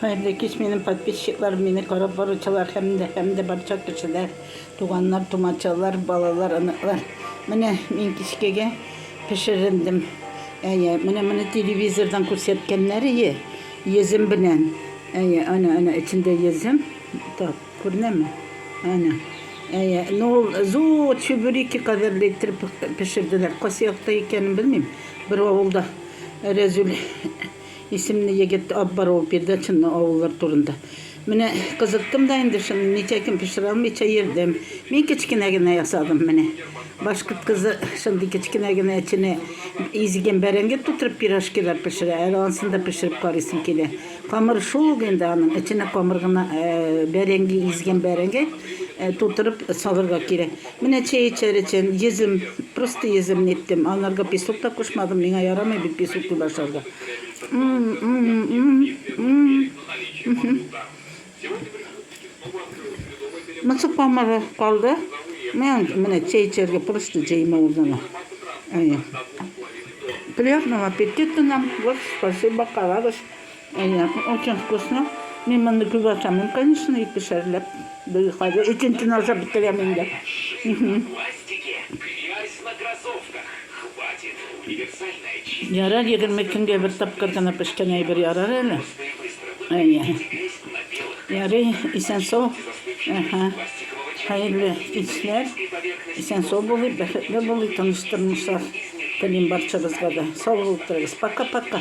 Хәерле кич, минем подписчиклар, мине карап баручылар һәм дә һәм дә барча кешеләр, туганнар, тумачалар, балалар, оныклар. Менә мин кичкегә пешерендем. Әйе, менә моны телевизордан күрсәткәннәр ие, йөзем белән. Әйе, ана, ана эчендә йөзем. Так, күренәме? Ана. Әйе, ну ул зур чебуреки кадәрле иттереп пешерделәр. Кайсы якта икәнен белмим. Бер авылда Рәзүл Исемле егет Аббарова передачаны авыллар турында. Менә кызыттым да инде шуны, ничәкин пешерә алмыйча йөрдем. Мин кечкенә генә ясадым менә. Башкорт кызы шундый кечкенә генә эченә изгән бәрәңге тутырып пирожкилар пешерә. Әле ансын да пешереп карыйсым килә. Камыр шул ук инде аның, эченә камыр гына бәрәңге, изгән бәрәңге тутырып салырга кирәк. Менә чәй эчәр өчен йөзем, просто йөзем ниттем. Анарга песок та кушмадым, миңа ярамый бит песок дип ашарга. Мысык памыры калды. Менә чәй эчәргә просто җәймә урнына. Приятного аппетита нам. Вот, спасибо, карагыз. Әйе, очень вкусно. Мин моны күп ашамыйм, конечно, ике шәрләп. Бер кайда икенчене ашап бетерәм инде. Ярар, егерме көнгә бер тапкыр гына пешкән әйбер ярар әле. Әйе. Ярый, исән сау. Әһә. Хәерле кичләр. Исән сау булыйк, бәхетле булыйк, тыныч тормышлар телим барчабызга да. Сау булып торыгыз. Пока-пока.